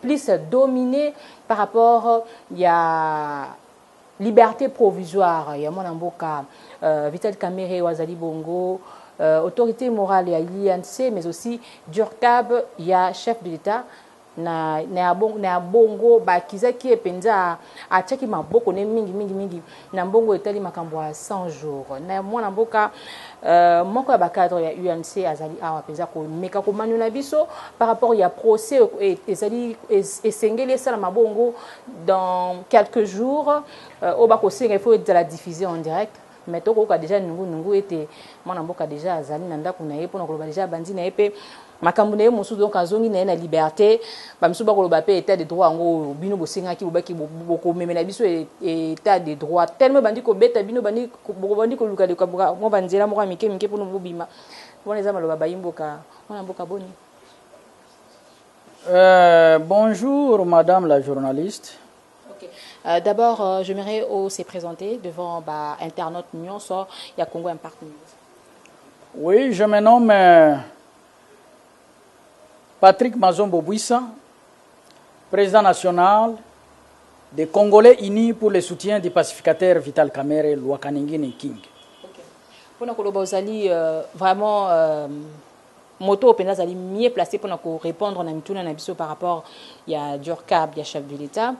plus domine par rapport ya liberté provisoire ya mwana mboka euh, Vital Kamerhe wazali bongo euh, autorité morale ya l'INC mais aussi Durkab ya chef de l'État na, na, ya bongo, na ya bongo bakizaki ye mpenza atiaki maboko ne mingi mingi mingi Na mbongo etali makambo ya 100 jours na mwana mboka euh, moko ya bacadre ya UMC azali awa mpenza komeka komanyola biso par rapport ya procès oyo e, ezali esengeli esalama bongo dans quelques jours euh, oyo bakosenga ifo ezala diffuse en direct mais tokoyoka deja nungunungu ete mwana mboka deja azali na ndako na ye mpona koloba deja abandi na ye mpe makambu naye mosusu donc azongi naye na liberte ba misusu ba koloba pe etat de droit yango oyo bino bosengaki bobaki bokomemela biso etat de droit tellement ebandi kobeta bino bandi bobandi koluka luka mwa ba nzela moko ya mike mike pona bobima wana eza maloba bayi mboka mwana mboka boni Euh, bonjour, madame la journaliste. Okay. Euh, D'abord, euh, j'aimerais se présenter devant bah, internautes Nyonso, il y a Congo Impact News. Oui je me nomme Patrick Mazombo Buissa, président national des Congolais unis pour le soutien du pacificateur Vital Kamerhe Luakaningini King. Okay. Pona koloba ozali euh, vraiment euh, moto oyo azali mieux placé pona ko répondre na mituna na biso par rapport ya Durcab ya chef de l'État.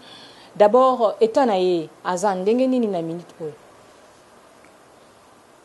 D'abord état na ye aza ndenge nini na minute oyo?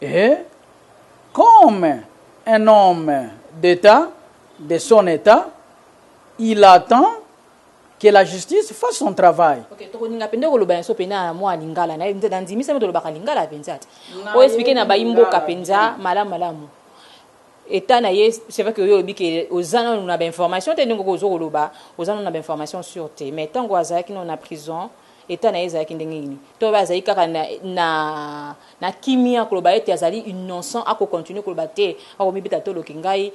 Ehee comme un homme d'etat de son etat il attend que la justice fasse son travail. Ok tokolinga pende koloba yanso pena na mua lingala naye nde na ndimi seme tolobaka lingala penza te o explique na bayi mboka penza malamu malamu etat na ye c'est vrai que yo olobi ke oza nanu na ba information te ndenge ozo koloba oza nanu na ba information sur te mais tango azalaki nanu na prison Etat na ye ezalaki ndenge nini? To pe azali kaka na na kimia koloba ete azali innocent ako continuer koloba te bako mibeta tolo ke ngai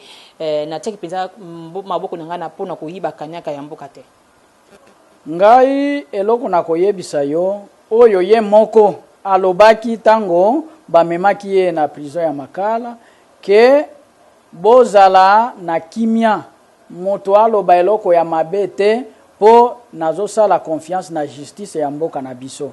na tiaki penza maboko na ngai na pona koyiba kaniaka ya mboka te. Ngai eloko nako yebisa yo oyo ye moko alobaki tango ba memaki ye na prison ya makala ke bozala na kimia. Moto aloba eloko ya mabe te po nazo sala confiance na justice ya mboka na biso.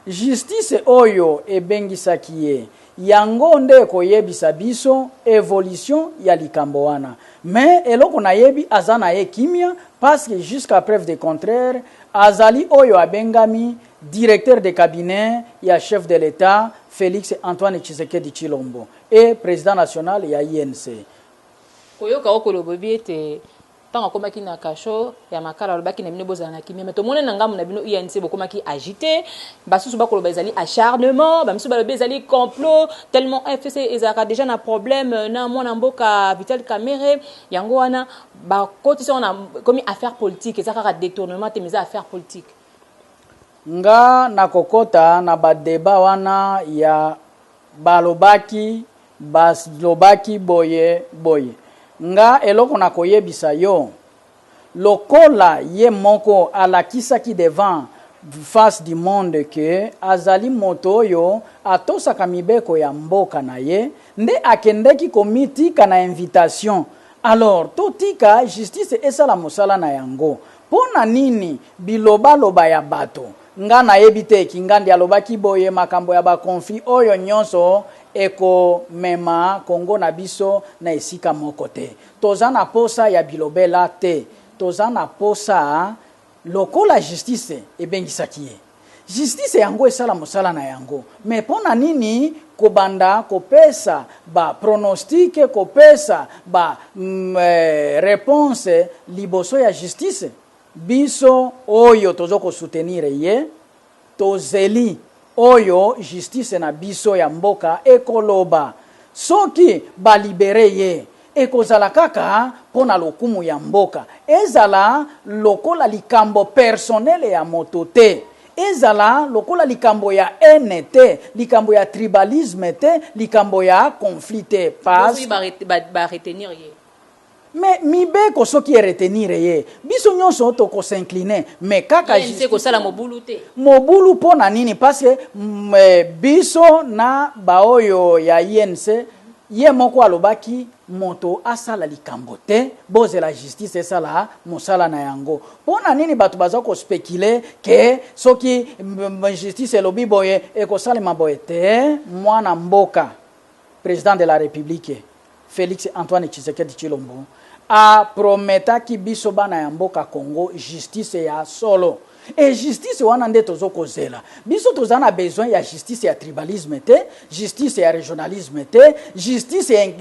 Justice oyo ebengisaki ye yango nde ekoyebisa biso evolution ya likambo wana. Mais eloko nayebi aza na ye kimia pasque jusqu'à preuve de contraire azali oyo abengami Directeur de cabinet ya Chef de l'Etat Felix Antoine Tshisekedi Tshilombo et President national ya UNC. Koyoka yo koloba oyebi ete tango akomaki na cachot ya makala alobaki na bino bozala na kimia mais tomoni na ngambo na bino UNC bokomaki agite basusu bakoloba ezali acharnement bamisusu balobi ezali complot tellement FCC ezalaka deja na problème na mwana mboka Vital Kamerhe yango wana bakotisi yango na ekomi affaire politique eza kaka detournement te mais eza affaire politique nga nakokota na ba debat wana ya balobaki Balobaki boye, Boye, nga, eloko nakoyebisa yo, lokola ye moko alakisaki devant face du monde que azali moto oyo atosaka mibeko ya mboka na ye, nde akendeki komitika na invitation. Alors, totika justice esala mosala na yango. Pona nini bilobaloba ya bato? Nga nayebi te, Kingandi alobaki boye makambo ya ba conflits oyo nionso eko mema Congo na biso na esika moko te. Toza na posa ya bilobela te, toza na posa lokola justice ebengisaki ye, justice yango esala mosala na yango mais pona nini kobanda kopesa ba pronostiques, kopesa ba reponses liboso ya justice? Biso oyo tozo ko soutenir ye tozeli oyo justice na biso ya mboka ekoloba. Soki ba liberer ye ekozala kaka pona lokumu ya mboka ezala lokola likambo personnel ya moto te, ezala lokola likambo ya haine te, likambo ya tribalisme te, likambo ya conflit te. Past. Ba retenir ye. Mais mibeko soki e retenir ye, biso nionso toko s'incliner mais kaka justice. UNC ekosala mobulu te? Mobulu po na nini? Parce que biso na ba oyo ya UNC, ye moko alobaki moto asala likambo te, bozela justice esala mosala na yango. Po na nini batu baza ko speculer que soki justice elobi boye ekosalema boye? Te, mwana mboka, President de la Republique. Felix Antoine Tshisekedi Tshilombo a prometaki biso bana ya mboka Congo justice ya solo et justice wana nde tozo kozela. Biso toza na besoin ya justice ya tribalisme te, justice ya regionalisme te, justice ya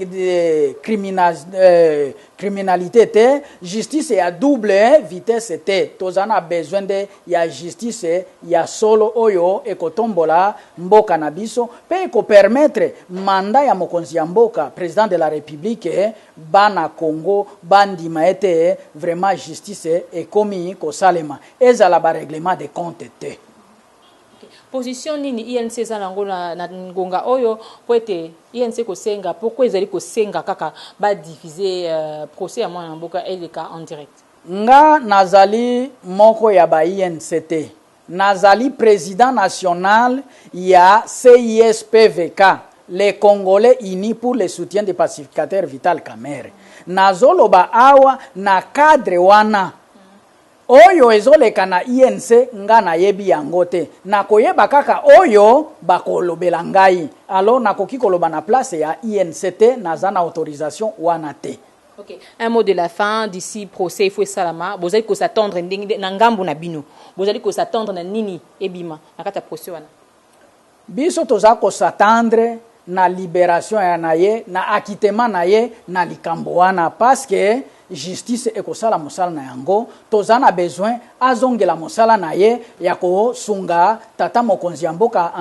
criminalite te, justice ya double vitesse te. Toza na besoin nde ya justice ya solo oyo ekotombola mboka na biso mpe eko permettre mandat ya mokonzi ya mboka, president de la republique, bana Congo bandima ete vraiment justice ekomi kosalema, ezala ba reglement de compte te. Position nini UNC eza nango na na ngonga oyo mpo ete UNC kosenga pourquoi ezali kosenga kaka ba diffuser procès ya mwana mboka eleka en direct? Nga nazali moko ya ba INC te, nazali president national ya CISPVK, les Congolais unis pour le soutien du pacificateur Vital Kamerhe. Nazoloba awa na cadre wana. Oyo ezoleka na INC nga nayebi yango te. Nakoyeba kaka oyo bakolobela ngai. Alors nakoki koloba na place ya INC te, naza na autorisation wana te. Ok un mot de la fin d'ici procès il faut esalama bozali ko s'attendre ndenge na ngambu na bino bozali ko s'attendre na nini ebima na kati ya procès wana? Biso toza ko s'attendre na liberation ya na ye na acquittement na ye na likambo wana parce que justice ekosala mosala na yango toza na besoin azongela mosala na ye ya ko sunga tata mokonzi ya mboka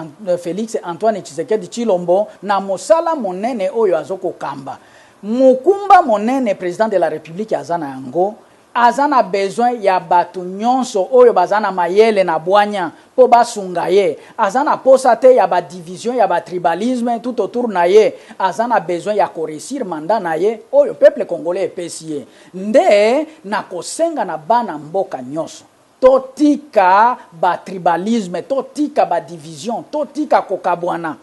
Felix Antoine Tshisekedi Tshilombo na mosala monene oyo azo ko kamba Mokumba monene President de la Republique aza na yango, aza na besoin ya batu nionso oyo baza na mayele na bwanya mpo basunga ye. Aza na posa te ya ba divisions, ya ba tribalismes tout autour na ye. Aza na besoin ya ko reussir mandat na ye oyo peuple congolais epesi ye. Nde nakosenga na bana mboka nionso. To tika ba tribalismes, to tika ba divisions, to tika ko kabwana.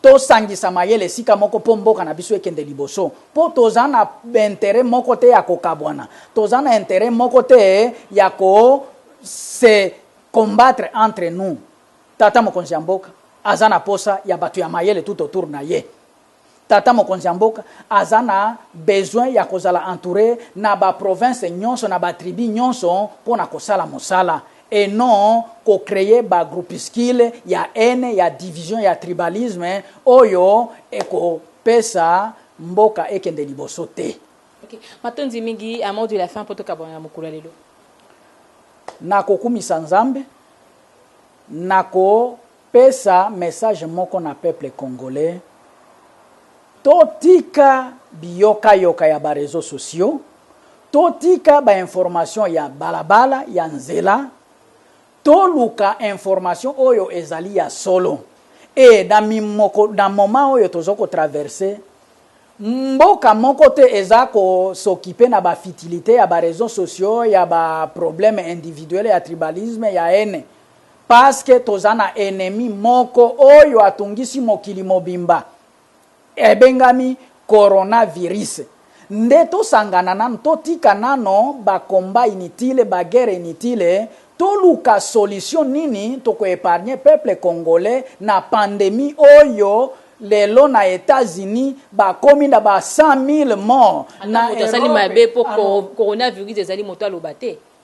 To sangisa mayele esika moko po mboka na biso ekende liboso. Po toza na b'interets moko te ya ko kabwana. Toza na interet moko te ya ko se combattre entre nous. Tata mokonzi ya mboka aza na posa ya batu ya mayele tout autour na ye. Tata mokonzi ya mboka aza na besoin ya kozala entoure na ba provinces nionso na ba tribus nionso mpo na kosala mosala et non ko creer ba groupuscules ya haine, ya division, ya tribalisme oyo eko pesa mboka ekende liboso te. Ok. Matondi mingi. Un mot de la fin mpo tokabwana na mokolo ya lelo. Na kokumisa Nzambe, na ko. Pesa message moko na peuple congolais to tika biyoka yoka ya ba reseaux sociaux, to tika ba informations ya bala bala, ya nzela, to luka information oyo ezali ya solo et na mimoko na moment oyo tozo ko traverser mboka moko te eza ko s'occuper na ba futilites ya ba reseaux sociaux, ya ba problèmes individuels ya tribalisme, ya haine. Parce que toza na ennemi moko oyo atungisi mokili mobimba ebengami Corona virus nde tosangana nanu totika nano ba combat inutile ba guerre inutile toluka solution nini toko epargne peuple congolais na pandemie oyo lelo na etat unis bakomi na ba 100.000 mort na Europe alors. Ata moto asali mabe po Corona virus ezali moto aloba te.